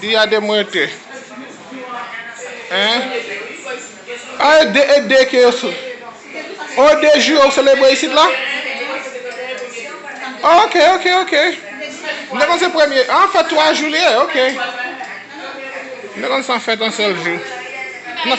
Di a de m rete. Hein? Ah e de e de ke yo se Oh e de jou yo selebre isit la? Oh ok ok ok. M te konn se premye ah an fèt 3 jou li ye ok. M te konn se an fèt an sèl jou. Nan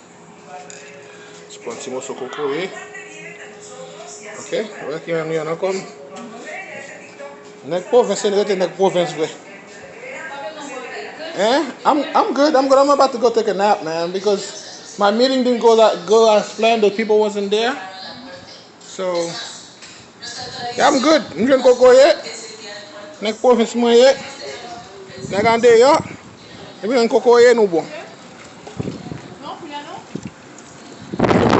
Pran ti moso kokoye. Ok, wè ki an yon an kòm. Nèg pwovens yon rete nèg pwovens vre. Eh, I'm, I'm good, I'm good, I'm about to go take a nap, man, because my meeting didn't go, go as planned, the people wasn't there. So, Ya m good, m jwenn kokoye, nèg pwovens mwen ye, nèg andeyò, depi nou jwenn kokoye nou bon.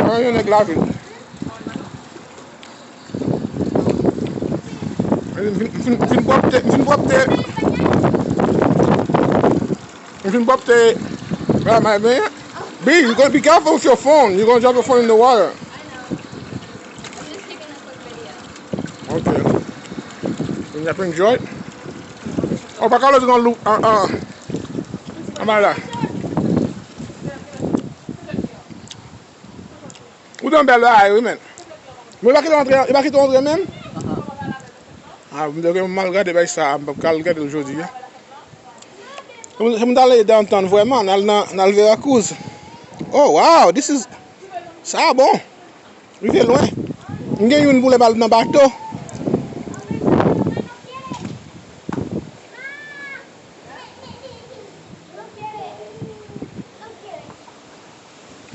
Mwen yon nèg lavil. M fin m fin pwòpte, m fin pwòpte, m fin pwòpte bagay m al benyen. B, you gotta be careful with your phone, you gonna drop your phone in the water. Ok. Mwen ap enjoy. O pa kalot yon lou. An an. An ba la. Ou dan bel la ayo men. Mwen pa ki ton antre. E pa ki ton antre men. A mwen deke mwen mal gade bay sa. Mwen pa kal gade l jodi. Mwen tale dan antan vweman. Nan al verakouz. O waw. Sa bon. Rive lwen. M gen youn pou lè bal nan bato.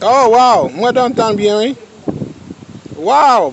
Oh waw m wè dantan byen wi. Waw.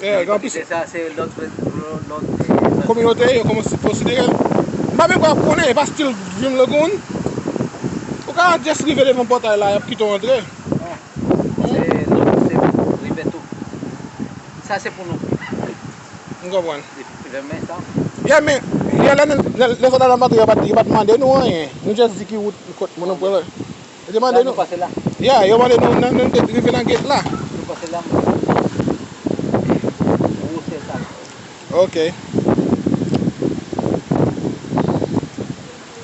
Eee gen anpil. Kantite sa se lòt lòt. Kominote yo kòmanse konsidere l. M pa menm kwè konnen, e pa stil Dream Lagoon. Ou ka just rive devan pòtay la, y ap kite w antre. Non. Se lòt se rive tou. Sa se pou nou. M konprann. Lè men sa. Yeah men, lè sòt Atlanta yo pa t mande nou anyen. Nou just di ki wout, kot moun nou pral. Yo te mande nou. Yeah, yo mande nou nan nou rive nan gate la. Nou pase la mwen te wè gwosè sa yo. Ok.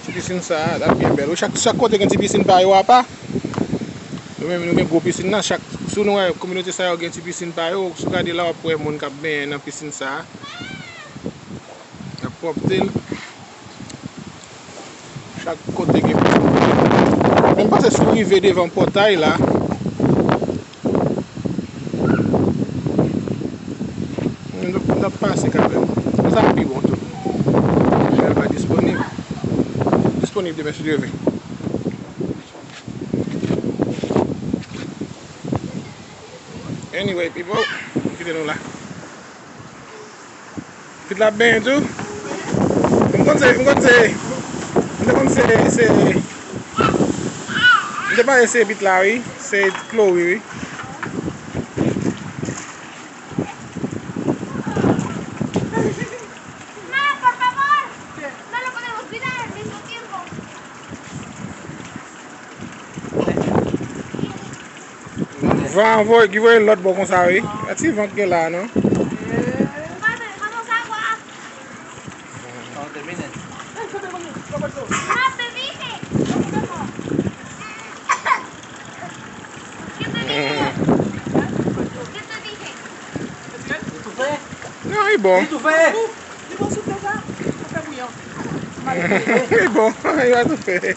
Ti piscine sa a ap byen bèl wi. Chak chak kote gen ti piscine pa yo apa. Nou menm nou gen gwo piscine nan chak sou nou wè kominote sa yo gen ti piscine pa yo. Sou gade la wap wè moun kap benyen nan piscine sa a. Yap propte l. Chak kote gen pòt kote. Lè m pase sou rive devan pòtay la. M ap pase kanmèm. Sa sa pi bon tou. Michel va disponib. Disponib demen si Dye vle. Anyway pipo, m kite nou la. Pitit la ap benyen tou. M konn se, m konn se, m te konn se, se, m te panse se pitit la wi, se Chloe wi. Van voye ki voye lot bo konsa wi. E ti van ki gen la non. Nan li bon. Li bon. Li va toufe.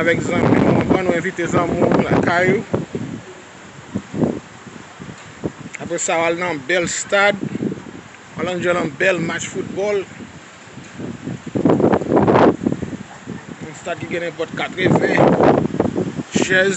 Avèk zanmi ou anvan ou envite zanmi ou lakay ou. Apre sa ou al nan bèl stad. Ou al anjoy yon bèl match foutbòl. Yon stad ki gen nenpòt 80 chèz.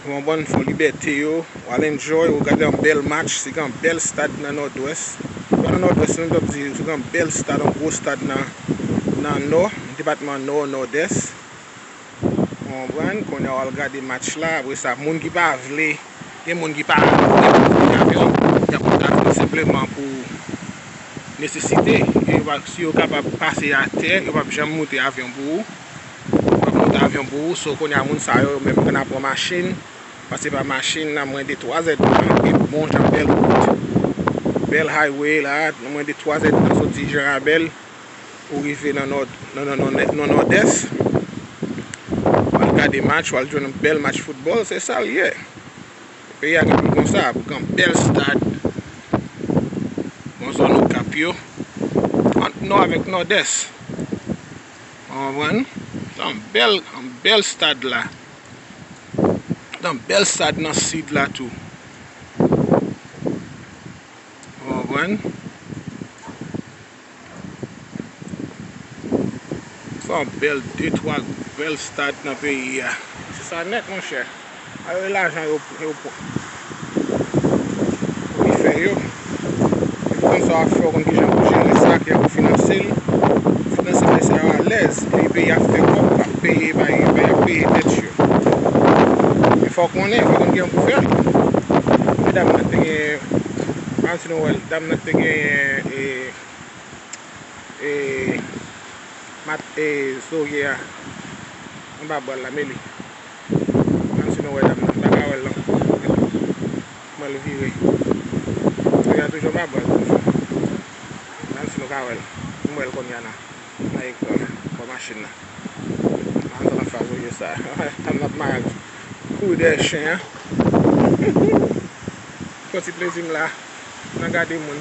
Pou yon bann fò libète yo, w al enjoy, ou gade yon bèl match sou yon bèl stad nan Nòdwès. Se pa nan Nòdwès non, m ta p di sou yon bèl stad, yon gwo stad nan Nò, depatman Nò, Nòdès. Ou konprann? Kounye a w al gade match la, apre sa moun ki pa vle, gen moun ki pa vle pou yo vini avyon, y ap ta vini senpleman pou nesesite. Si yo kapab pase atè, yo p ap janm moute avyon pou ou. Mwen pran mont avyon pou ou So kounye a moun sa yo menm ann a pran machin Pase pa machin nan mwen de 3 zèd tan Gen bon jan bèl wout Bèl highway la a nan mwen de 3 zèd tan Soti Jan Rabèl pou rive nan nò nan nòdès W al gade match w al jwenn yon bèl match foutbòl Se sa l ye Peyi a gen pou l konsa pou gen yon bèl stad Bon zòn Okap yo Ant nò avèk nòdès. Ou konprann? Se yon bèl, yon bèl stad la. Gen yon bèl stad nan sid la tou. Ou konprann? Se yon bèl, de twa bèl stad nan peyi a. Se sa nèt monchè. Sa yo lajan yo pou li fè yo. Li konn sa wap fè, ou konn kijan pou jere sa, kijan pou finanse li. Finanse bagay sa yo alèz. Epi peyi a fè kòb, lap peye bay, lap peye tèt yo. Men fòw konnen, fòw konn kijan pou fè. Gade dam nan te gen, an si nou wèl, dam nan te genyen e, e, mat e, zoya, anba bwal la, meli. Menm si nou wè dam nan. M pa ka wè l non. Kman l vire. Feyton an toujou anba bwaz toujou. Menm si nou pa wè l. M wè l konnya nan ekran an. Bò machin nan. M antre an fas oje sa. Dam nan ap mare l. Kouri dèyè chen an. M fè ti plezi m la. Nan gade moun.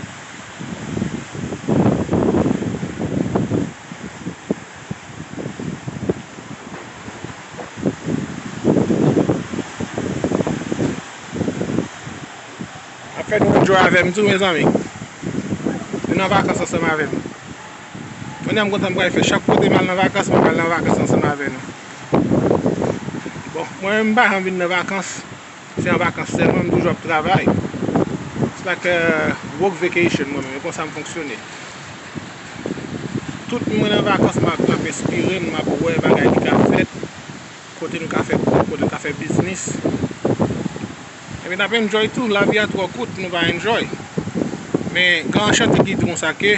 Ap fè nou enjoy avèm tou mezanmi Vin nan vakans ansanm avèm Kounya m kontan m pral fè chak kote m al nan vakans mwen pral nan vakans ansanm avè nou Bon mwen menm m pa janm vin nan vakans Se an vakans sèlman m toujou ap travay. It's like a work vacation mwen menm, e konsa m fonksyone. Tout moun mwen nan vakans m ap enspire, m ap wè bagay ki ka fèt, kote nou ka fè kòb, kote nou ka fè biznis. Epi n ap enjoy tou, lavi a twò kout pou nou pa enjoy. Men kan an chante ki di konsa ke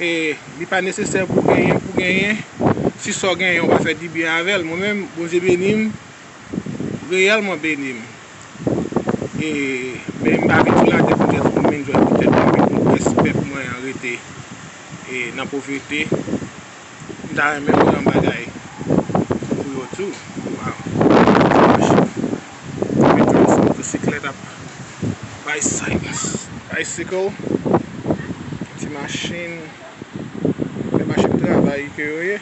e li pa nesesè pou genyen pou genyen, si sa w genyen ou pa fè dibyen avè l. Mwen menm, Bondye beni m. reyèlman beni m. E, men m pa vin sou latè pou m jès vin jwenn pou tèt mwen, men pou m pès pèp mwen an rete nan povrete. M ta renmen wè yon bagay pou yo tou. Waw! Ti machin. Epi tou sou motosiklèt ap bay silans. Bicycle, ti machin, se machin travay ke yo ye.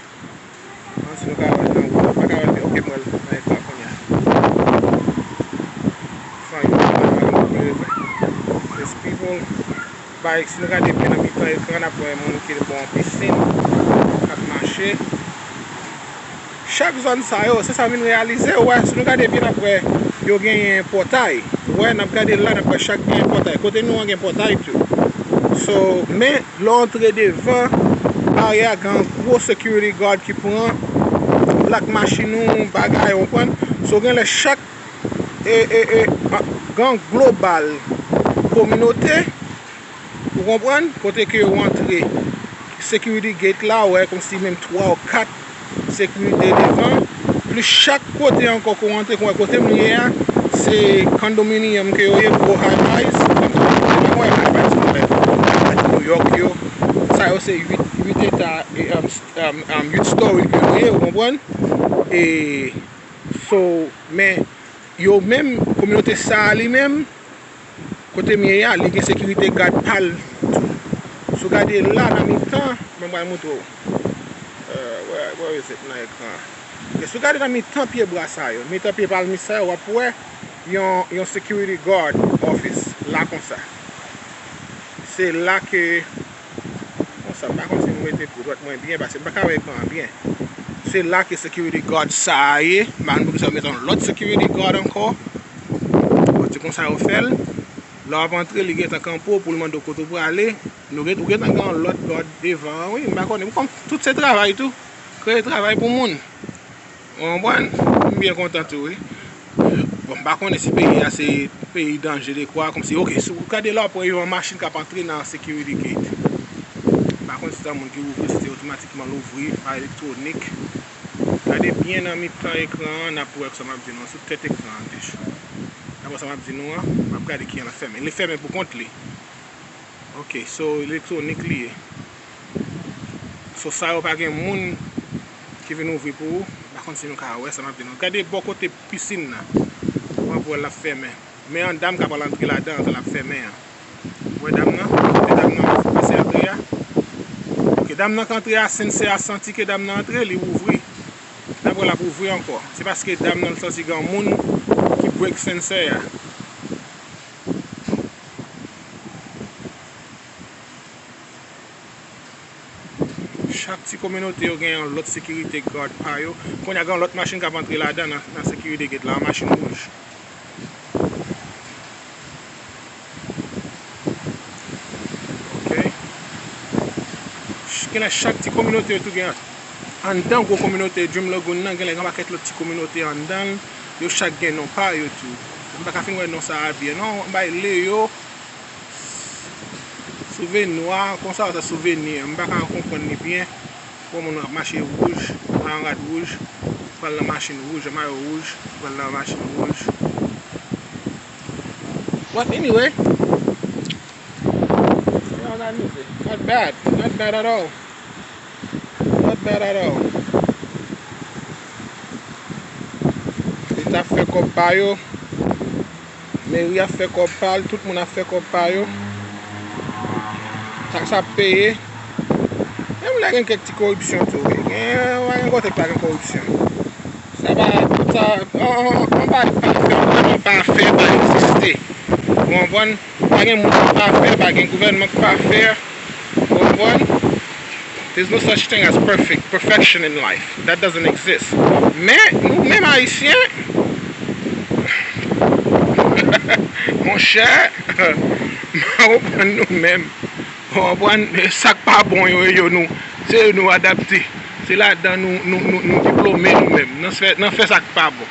Anti nou ka wèl nan wouj. Nou paka wèl ok m wèl nan ekran kounya. San yon ti bagay nou pap wèl. These people bay si nou gade byen nan mitan ekran nap wè moun ki bò an pisin kap mache. Chak zòn sa yo se sa m vin reyalize ou wè si nou gade byen nap wè yo genyen pòtay ou wè nap gade la nap wè chak gen pòtay kote nou an gen pòtay tou so men Lè w antre devan arè a gen yon gwo security guard ki pran plak machin ou, bagay ou konprann. So gen lè chak gang global kominote ou konprann kote ke yo antre security gate la wè kòmsi menm 3 ou 4. Sekirite devan, plis chak kote ankò ke w antre, kon wè kote m ye a, se kondominiyòm ke yo ye, gwo high-rise, m wè high-rise mwen wè, high-rise Nouyòk yo, sa yo se 8 eta, 8 story ke yo ye, ou konprann? E, so, men, yo menm, kominote sa a li menm, Kotem ye a li gen sekirite gad pal tou sou gade la nan mitan mwen pral moutrew where is it nan ekran an ok sou gade nan mitan pye bwa sa yo mitan pye palmis sa yo wap wè yon security guard office la konsa se la ke Konsa m pa konn si m mete dwèt mwen byen pase m pa ka wè ekran an byen. Se la ke security guard sa a ye. M pa konn poukisa yo met yon lòt security guard ankò. Bon se konsa yo fè l. Lè w ap antre li gentan kanpe w pou l mande w kote w prale. Nou ou gentan gen yon lòt guard devan an wi. M pa konnen. M konn tout se travay tou. Kreye travay pou moun. Ou konprann? M byen kontan tou wi. Bon m pa konnen si peyi a se peyi danje dekwa kòmsi ok si w gade lò apre yon machin k ap antre nan security gate m pa konn si se yon moun ki ouvri l si se otomatikman l ouvri pa elektwonik gade byen nan mitan ekran an n ap wè sa m ap di nou an sou tèt ekran an dèyè dapre sa m ap di nou an m ap gade kijan l ap fèmen li fèmen pou kont li ok so elektwonik li ye. So sa yo pa gen moun ki vin ouvri pou ou. M pa konn si nou ka wè sa m ap di nou. Gade bò kote pisin nan. M ap wè l l ap fèmen. Men an dam ka pral antre ladan an tan l ap fèmen an. Ou wè dam nan? Kote dam nan pase antre a? Ok, dam nan k antre a, Sensei a santi ke dam nan antre, li ouvri. L ap wè l ap ouvri ankò. Se paske dam nan santi gen yon moun ki break Sensei a. Chak ti kominote yo gen yon lòt sekirite gad pa yo. Kounye a gen yon lòt machin k ap antre ladan nan sekirite gate la, yon machin wouj. Ok. Genlè chak ti kominote yo tou gen anndan gwo kominote Dream Lagoon nan genlè gen yon pakèt lòt ti kominote anndan l. Yo chak gen non pa yo tou. M pa ka fin wè non sa a byen non. M bay Leo. Souveni nwa konsa ou se souveni an. M pa ka konprann li byen. Bon moun ap mache wouj, pran rad wouj, pran nan machin wouj, an mayo wouj, pran nan machin wouj. But anyway, se yon rad mize. Not bad, not bad at all. Not bad at all. Li ta fè kòb pa yo. Meri ap fè kòb pa l, tout moun ap fè kòb pa yo. Taks ap peye. Menm lè gen kèk ti koripsyon tou wi. Gen, pa gen kote k pa gen koripsyon. Sa pa, tout sa, anvan pa gen pafè, anvan pa gen pafè pa egziste. Ou konprann? Pa gen moun ki pafè, pa gen gouvènman ki pafè. Ou konprann? There's no such thing as perfect, perfection in life. That doesn't exist. Men, nou menm Ayisyen, monchè, m pa konprann nou menm. Ou konprann? Sa k pa bon yo, e yo nou, se yo nou adapte. Se ladan nou, nou, nou, nou diplome nou menm, nan fè sa k pa bon.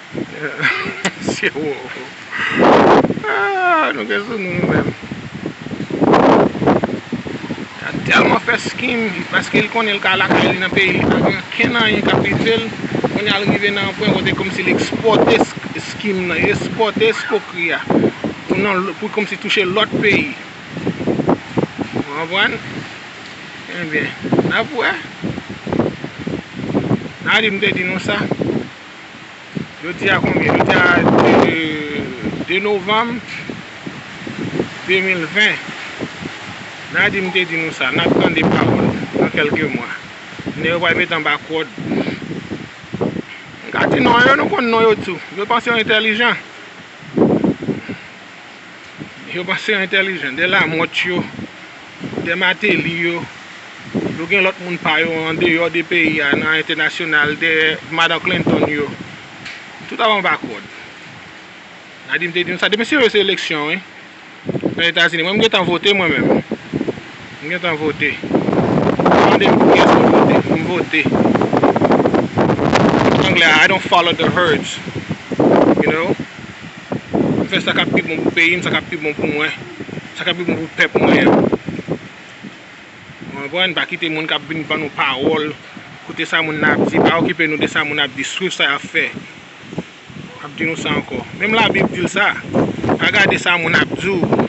Mesye wo Aah nou gen sou nou nou menm Misye a telman fè skim paske li konnen li ka lakay li nan peyi li pa gen ankenn anyen kap rivel Kounye a li rive nan yon pwen kote komsi li ekspòte skim nan li ekspòte eskokri a Pou nan pou komsi touche lòt peyi Ou konprann Ebyen nap wè Nap wè Nap di m te di nou sa. Jodi a konbyen? Jodi a 2 novanm 2020. Nadim te di nou sa, n ap tande pawòl nan kèlke mwa. Nèg yo pral met anba kòd. M ka di non yo, nou konn non yo tou. Yo panse yo entèlijan. Yo panse yo entèlijan. De lamòt yo. Dè Mateli yo, yo gen lòt moun pa yo an deyò de peyi a, nan entènasyonal, dè Madan Clinton yo. Tout ap anba kòd. Nadim te di nou sa. Depi se yo se eleksyon wi. Nan Etazini. Mwen m gentan vote mwen menm. M gentan vote. Pa mande m pou kiyès mwen vote. M vote. Anglè a, I don't follow the herds. You know? M fè sa k ap pi bon pou peyi m, sa k ap pi bon pou mwen, sa k ap pi bon pou pèp mwen an. Ou konprann? Pa kite moun k ap vin ban nou pawòl, koute sa moun nan ap di, pa okipe nou de sa moun nan ap di, swiv sa y ap fè. M ap di nou sa ankò. Menm Labib di l sa, pa gade sa moun ap di w.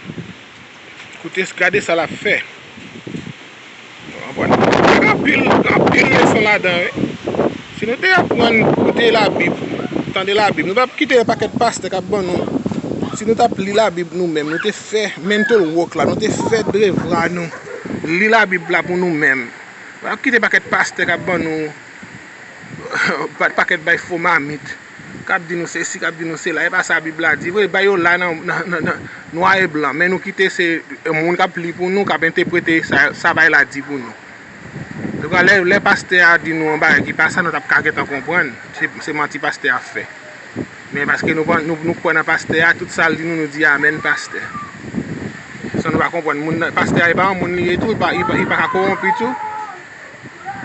Koute gade sa lap fè. Gen anpil anpil leson ladan wi. Si nou te aprann koute labib, tande labib, nou tap kite yon pakèt pastè kap ban nou. Si nou tap li labib nou menm, nou te fè mental work la, nou te fè devwa nou, li labib la pou nou menm. Nou pa kite pakèt pastè kap ban nou, pakèt bay fo mamit. Kap di nou sesi kap di nou sela epa sa bib la di vre bay yo la nan nwa e blan men nou kite se moun kap li pou nou kap enteprete sa bay la di pou nou ebyen lè lè pastè a di nou yon bagay ki pa sa nou tap ka gentan konprann se manti pastè ap fè men paske nou kwè nan pastè a tout sal di nou nou di amèn pastè san nou pa konprann moun nan pastè a epa yon moun li ye tou li paka kowonpi tou.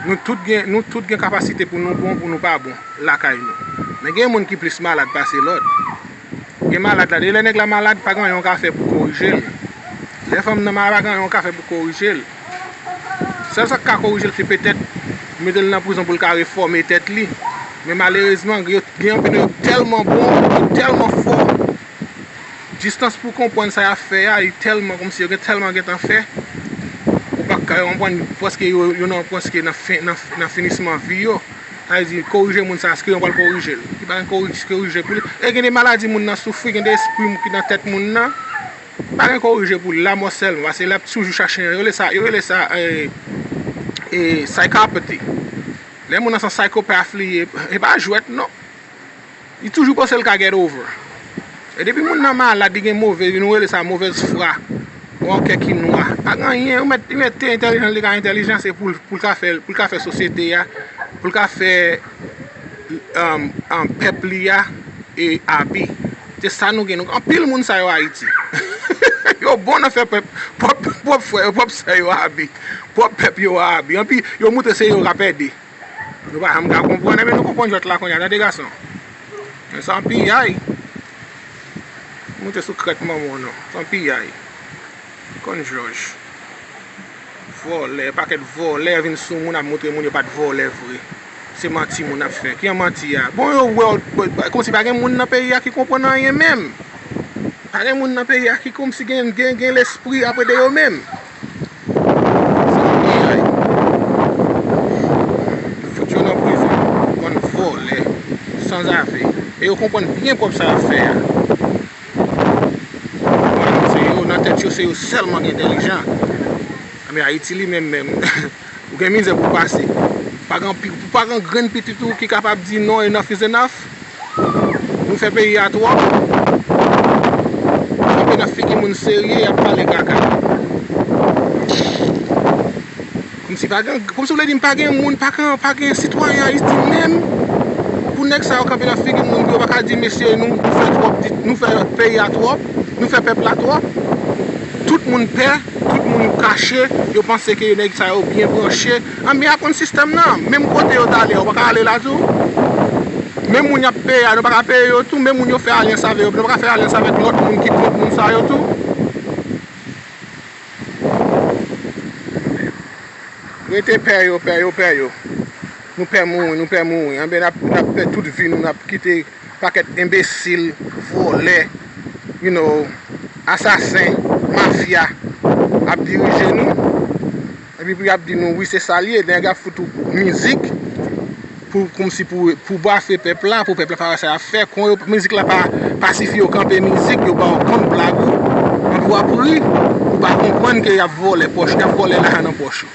Nou tout gen nou tout gen kapasite pou nou bon pou nou pa bon lakay nou. Men gen moun ki plis malad pase lòt. Gen malad la de lè nèg la malad pa gen anyen ou ka fè pou korije l. Lè fanm nan malad pa gen anyen ou ka fè pou korije l. Sèl sa k ka korije l se petèt mete l nan prizon pou l ka refòme tèt li. Men malerezman gen anpil nan yo ki tèlman bon, ki tèlman fò. Distans pou konprann sa yap fè a, li tèlman kòmsi yo gen tèlman gentan fè, ou pa ka konprann prèske yo yo nan prèske nan fen nan finisman vi yo. Sa vle di korije moun sa eske yo pral korije l? Li pa gen korije korije pou li. E gen de maladi moun nan soufri, gen de espri ki nan tèt moun nan, pa gen korije pou li, lamò sèlman pase lap toujou chache yo rele sa yo rele sa ee psychopathy. Lè moun nan son psychopath li ye, e pa jwèt non. Li toujou panse l ka get over. E depi moun nan malad li gen move, nou rele sa movèz fwa. Ou an kè ki nwa. Pa gen anyen, yo mèt li mèt te entèlijan l te ka entèlijan se pou l ka fè pou l ka fè sosyete a, pou l ka fè pèp li a e abi. Se sa nou gen. Nou gen anpil moun sa yo Ayiti. Yo bon nan fè pèp, pwòp frè yo, pwòp sè yo abi. Pwòp pèp yo a abi. Anpi yo montre se yo k ap ede. Nou pa janm ka konprann enben nou konprann jwèt la kounya tande gason Men san piyay Moute sou krèk manman nou san piyay Konn jòj Vòlè pakèt vòlè vin sou moun ap moutre moun yo pat vòlè vre Se manti moun ap fè ki an manti a bon yo wèw kòmsi pa gen moun nan peyi a ki konprann anyen menm Pa gen moun nan peyi a ki kòmsi gen gen gen lespri apre de yo menm. Se yon bagay Yo fout yo nan prizon Bann vòlè Sanzave E yo konprann byen kòb sa yap fè a Nan tèt yo se yo sèlman ki entèlijan Anben Ayiti li menm menm Ou gen mizè pou w pase. Pa gen anpil, pa gen grenn pitit ou ki kapab di non enough is enough. Nou fè peyi a twòp. Kanpe nan figi moun serye y ap pale kaka. Kòmsi pa gen, kòmsi w vle di m pa gen moun, pa gen sitwayen Ayiti menm pou nèg sa yo kanpe nan figi moun pou yo pa ka di mesye nou fè twòp, nou fè peyi a twòp, nou fè pèp la twòp. Tout moun pè. Tout moun kache, yo panse ke nèg sa yo byen branche, anben yap konn sistèm nan, menm kote yo tale a ou paka ale la tou, menm moun yap peye a nou paka peye yo tou, menm moun yo fè alyans avè yo nou paka fè alyans avèk lòt moun ki kont moun sa yo tou. Rete pè yo, pè yo, pè yo, nou pè mouri, nou pè mouri, anben nap pè tout vi nou nap kite. Pakèt enbesil, vòlè, you know, asasen, mafya ap dirije nou. Epi pou yap di nou wi se sal ye, lè yap fout ou mizik pou komsi pou bafe pèp la, pou pèp la pa wè sa yap fè, kon yo mizik la pa sifi yo kanpe mizik, yo baw kont blag ou, epi wap ri, ou pa konprann ke yap vòlè pòch, yap vòlè lajan nan pòch ou.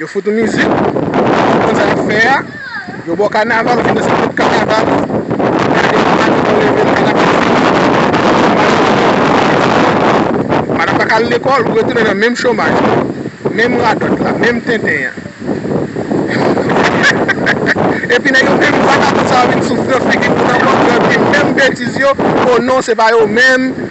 Yo fout ou mizik, se konsa yap fè a, yo baw kanaval ou fin danse tout kanaval ou, gade yon madanm ou level kanaval fini, madanm paka al lekòl ou retounen nan menm chomaj la, menm radòt la, menm tenten an, epi nèg yo menm vagabon sa yo vin sou figi pou nan kòd yo epi menm betiz yo, oh non se pa yo menm.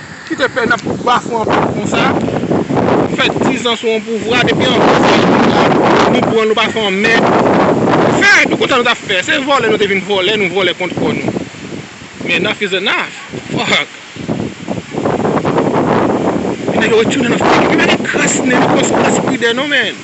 Ki te fè nap bafwe anpil konsa. Nou fè 10 ans sou yon pouvwa depi yon bon seri pouvwa nou pran nou pa fè yon mèd fè nou kontan nou tap fè se vòlè nou te vin vòlè nou vòlè kont kò nou men enough is enough fuck men nèg yo retounen nan figi nou men pa gen kras nen nou pran sou kras pwidè non men.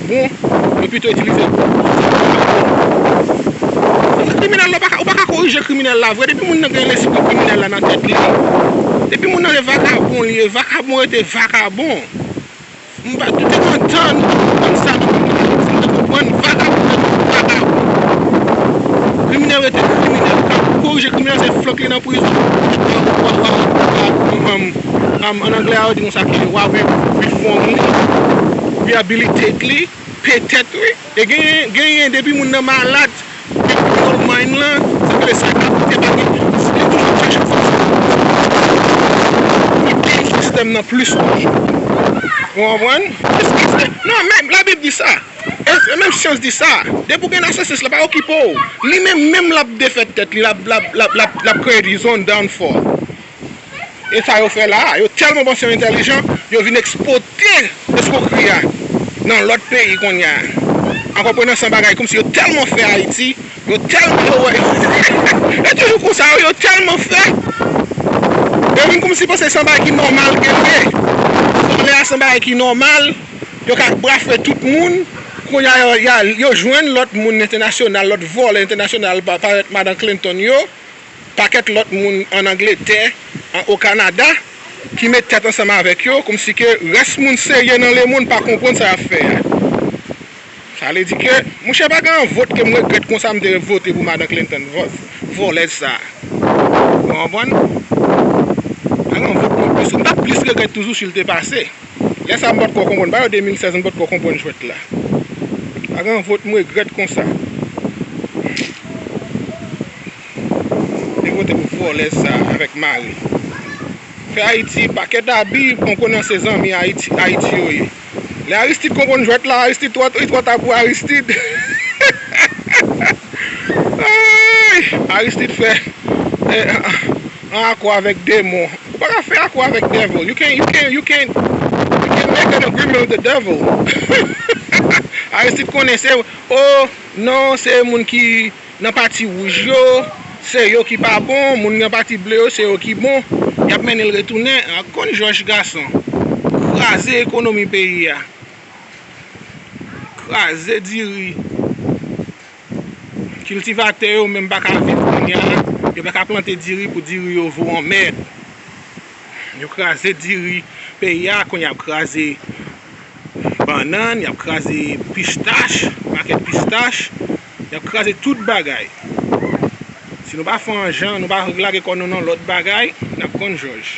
Bon Yo pito itilize l pou moun sa yo yo bon Koze kriminèl la ou paka korije kriminèl la vre depi moun nan gen lespri kriminèl la nan tèt li depi moun nan se vakabon li ye vakabon rete vakabon m pa doute nan tan nou te konprann sa nan peyi dayiti nou te konprann vakabon rete vakabon kriminèl rete kriminèl ou ka korije kriminèl se flank li nan prizon ou pa ou pa ou pa An anglè a yo di moun sa ki wa wi wi fòm li, rehabilitate li, petèt wi. E genyen genyen depi moun nan malad wi criminal mind lan sa vle sa ka pote ba li li toujou ap chache fason pou l pini sistèm nan plis toujou. Ou konprann? Eske non menm labib di sa e menm syans di sa depi ou gen narcissist la pa okipe w li menm menm l ap defèt tèt li l ap l ap l ap l ap kreye dizòn, downfall. E sa yo fè la a? Yo tèlman panse yo entèlijan, yo vin ekspote eskwokri a nan lòt peyi kounye a. An konprenan san bagay kòmsi yo tèlman fè Ayiti, yo tèlman yo wè e toujou konsa wi, yo tèlman fè, yo vin kòmsi panse se yon bagay ki nòmal ke l ye. Vòlè a se yon bagay ki nòmal, yo ka brafwe tout moun. Kounye a yo jwenn lòt moun entènasyonal, lòt vòlè entènasyonal parèt Madan Clinton yo, pakèt lòt moun an Angletè, an o Kanada, ki met tèt ansanm avèk yo, kòmsi ke rès moun serye nan lemonn pa konprann sa y ap fè a. Sa vle di ke, mouche pa gen yon vot ke m regrèt konsa m te vote pou Madan Clinton, vòs, vòlèz sa a. Ou konprann? Pa gen yon vot mwen plis, m t ap plis regrèt toujou si l te pase. Lè sa m pat ko konprann. Ba yo 2016 m pat ko konprann jwèt la. Pa gen vot m regrèt konsa. Yo vote pou vòlèz sa avèk mari. Fè Haiti pakèt abi pran konnen se zanmi Haiti yo ye. Lè Aristide konprann jwèt la Aristide twò li twò ta pou Aristide. Aristide fè. An akò avèk demon. Ou pa ka fè akò avèk devil. You can't, you can't, you can't, you can't make an agreement with the devil. Aristide konnen se, oh, non, se moun ki nan pati wouj yo, se yo ki pa bon, moun nan pati ble yo, se yo ki bon. Y ap mennen l retounen ak konn jòj gason. Kraze ekonomi peyi a. Kraze diri. Kiltivatè yo menm pa ka viv kounya la, yo pa ka plante diri pou diri yo vo an mèd. Yo kraze diri peyi a, kounye a y ap kraze bannann, y ap kraze pistach, pakèt pistach, y ap kraze tout bagay. Si nou pa fè an jan, nou pa lage kò nou nan lòt bagay, n ap konn jòj.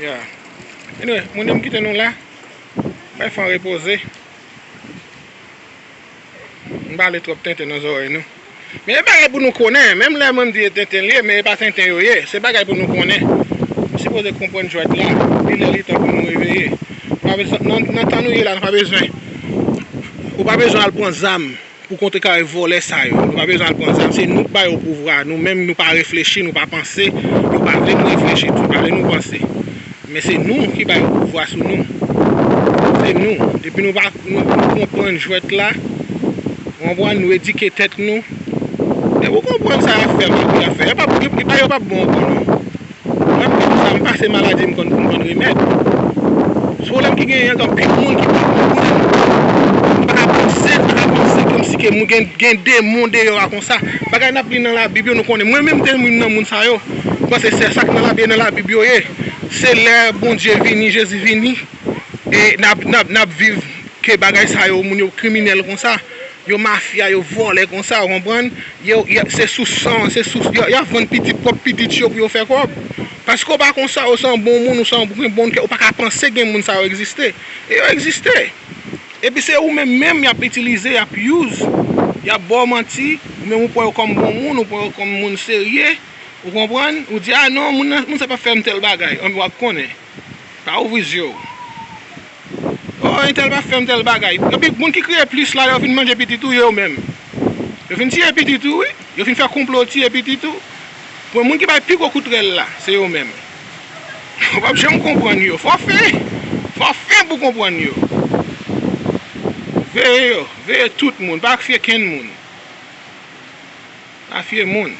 Ya Anyway moun yo m kite nou la Bay fan repoze M pale twòp tenten nan zòrèy nou Men e bagay pou nou konnen Menm lè mwen m di e tenten l ye men e pa tenten yo ye Se bagay pou nou konnen Nou sipoze konprann jwèt la Li lè li tan pou nou reveye Nan tan nou ye la nou pa bezwen Ou pa bezwen al pran zam Pou kontre kare vòlè sa yo. Nou pa bezwen al pran zam. Se nou k ba yo pouvwa. Nou menm nou pa reflechi, nou pa panse. Yo pa vle nou reflechi tou. Pa vle nou panse. Men se nou ki ba yo pouvwa sou nou. Se nou. Depi nou pa nou konprann jwèt la. Ou konprann? Nou edike tèt nou. Depi ou konprann sa y ap fè, map di y ap fè. Yo pa bon ankò non. Mwen menm konsa m pase maladi m konn pou m vann remèd. Pwoblèm ki genyen anko anpil moun ki pran gwo goumen m pa ka panse m pa ka panse kòmsi ke mwen gen gen demon deyò a konsa. Bagay n ap li nan labib yo nou konnen mwen menm m te youn nan moun sa yo m panse sè sa k nan labib e nan labib yo ye se lè Bondye vini Jezi vini e n ap n ap n ap viv ke bagay sa yo moun yo kriminèl konsa Yo mafya yo vòlè konsa ou konprann yo se sou san se sou yap vann pitit pwòp pitit yo pou yo fè kòb paske ou pa konsa ou se yon bon moun ou se yon gen bon kè ou paka panse gen moun sa yo egziste e yo egziste epi se ou menm menm yap itilize yap use yap baw manti ou menm ou pran yo kòm bon moun ou pran yo kòm moun serye ou konprann ou di a non moun sa pap fèm tèl bagay anpi wap konnen. Pa ouvri zye w. Oh entèl pa fèm tèl bagay. Epi moun ki kriye plis la yo fin manje pitit ou yo menm. Yo fin tiye pitit ou wi. Yo fin fè konplo tiye pitit ou. Pwen moun ki bay pi gwo kout rèl la se yo menm. Ou pap janm konprann yo. Fò fen. Fò fen pou konprann yo. Veye yo. Veye tout moun. Pa fye kenn moun. Pa fye moun.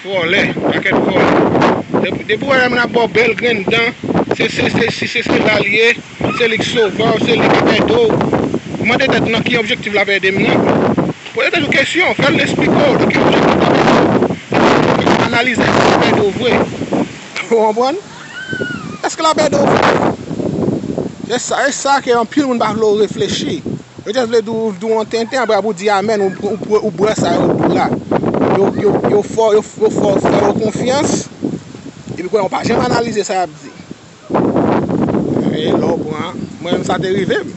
Vòlè. Pakèt vòlè. Depi ou wè yon moun ap ba w bèl grenn dan, se sesi, se sela li ye, se li k sove w, se li k ap ede w. Mande tèt ou nan ki objektif l ap ede m nan. Poze tèt ou kesyon. Fè l esplike w nan ki objektif l ap ede w. Analize l si l ap ede w vre. Ou konprann? Èske l ap ede w vrè? E sa ke anpil moun pa vle w reflechi. Yo jis vle di w yon tenten apre apre w di amèn ou bwè sa yo di w la. Yo fè w fè yo konfyans epi kounye a ou pa janm analize sa y ap di. Mwen menm sa te rive m.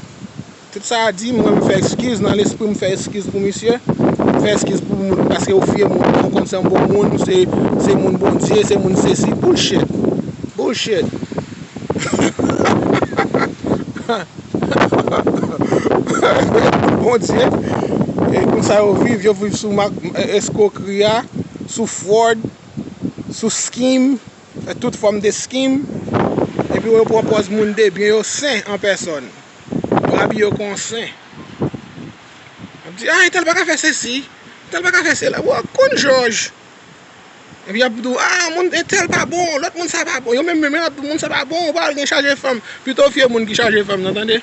Tout sa a di, mwen m fè eskiz, nan lespri m fè eskiz pou misye, m fè eskiz pou moun paske ou fye moun, ou konn se yon bon moun, ou se moun Bondye, se moun sesi, bullshit! Bullshit! Bondye, e konsa yo viv, yo viv sou eskrokri a, sou fraud, sou skim, tout fòm de skim, epi yo pwopòz moun debyen yo sen an pèsòn. Bab yo konsen. Ap di, a, entèl pa ka fè sesi. Entèl pa ka fè sela. Ou ak konn jòj. Epi ap di, a, moun entèl pa bon. Lòt moun sa pa bon. Yo menm menm yo ap di, moun sa pa bon. Ou pa al gen chaje fanm. Pito w fye moun ki chaje fanm nan, tande.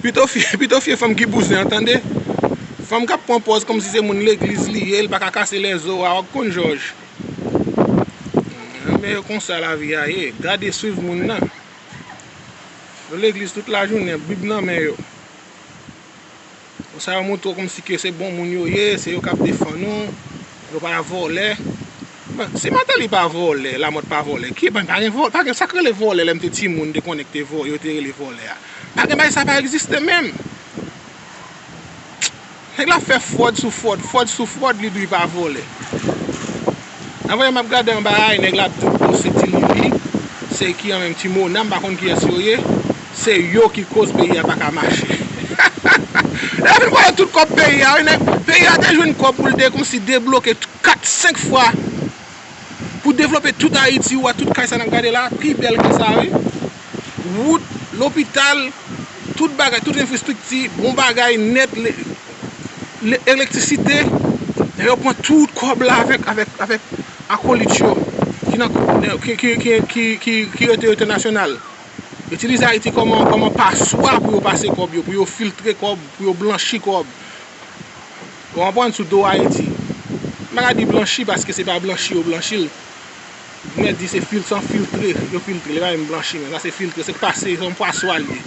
Pito w fye fanm ki bouzen an, tande. Fanm k ap pran pòz kòmsi se moun legliz li ye. L pa ka kase lèzo a. Ou ak konn jòj. Ebyen e konsa lavi a ye. Gade swiv moun nan. Yo legliz tout la jounen, bib nan men yo. Konsa yo montre w kòmsi ke se bon moun yo ye, se yo k ap defann ou, yo pa vòlè. Bon, si Mateli pa vòlè, Lamòt pa vòlè, ki pa gen vòlè, pa gen sa k rele vòlè lè m te timoun m te konnen ki te yo te rele vòlè a. Pa gen bagay sa pa egziste menm. Nèg la ap fè fròd sou fròd, fròd sou fròd li dri pa vòlè. Anmweyy map gade anba a e nèg la ap dim bon se ti lili, se ki an menm ti mona m pa konn kiyès yo ye, se yo ki koz peyi a paka mache. Nèg la fin vòlè tout kòb peyi a wi nèg, peyi a te jwenn kòb pou l te konsi debloke 4, 5 fwa. Pou devlope tout Ayiti ou a tout kay sa nap gade la pi bèl ke sa wi. Wout, lopital, tout bagay, tout enfrestrikti, bon bagay nèt, elektrisite, lè yo pran tout kòb la avèk avèk akolit yo ki nan ki rete yo entènasyonal. Itilize Ayiti kòman kòman paswa pou yo pase kòb yo, pou yo filtre kòb, pou yo blanchi kòb. Ou konprann sou do Ayiti. M pa ka di blanchi paske se pa blanchi yo blanchi l. M mèt di se san filtre yo filtre l. E pa menm blanchi men. Sa se filtre. Se pase, se yon paswa l ye.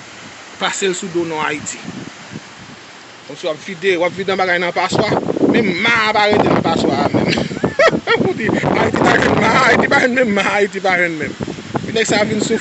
Pase l sou do non Ayiti. Kòmsi w ap vide, w ap vide yon bagay nan paswa. Menm ma a pa rete nan paswa a menm. Pou w di Ayiti pa jwenn ma a. Ayiti pa jwenn menm ma a Ayiti pa jwenn menm. Epi nèg sa a vin sou.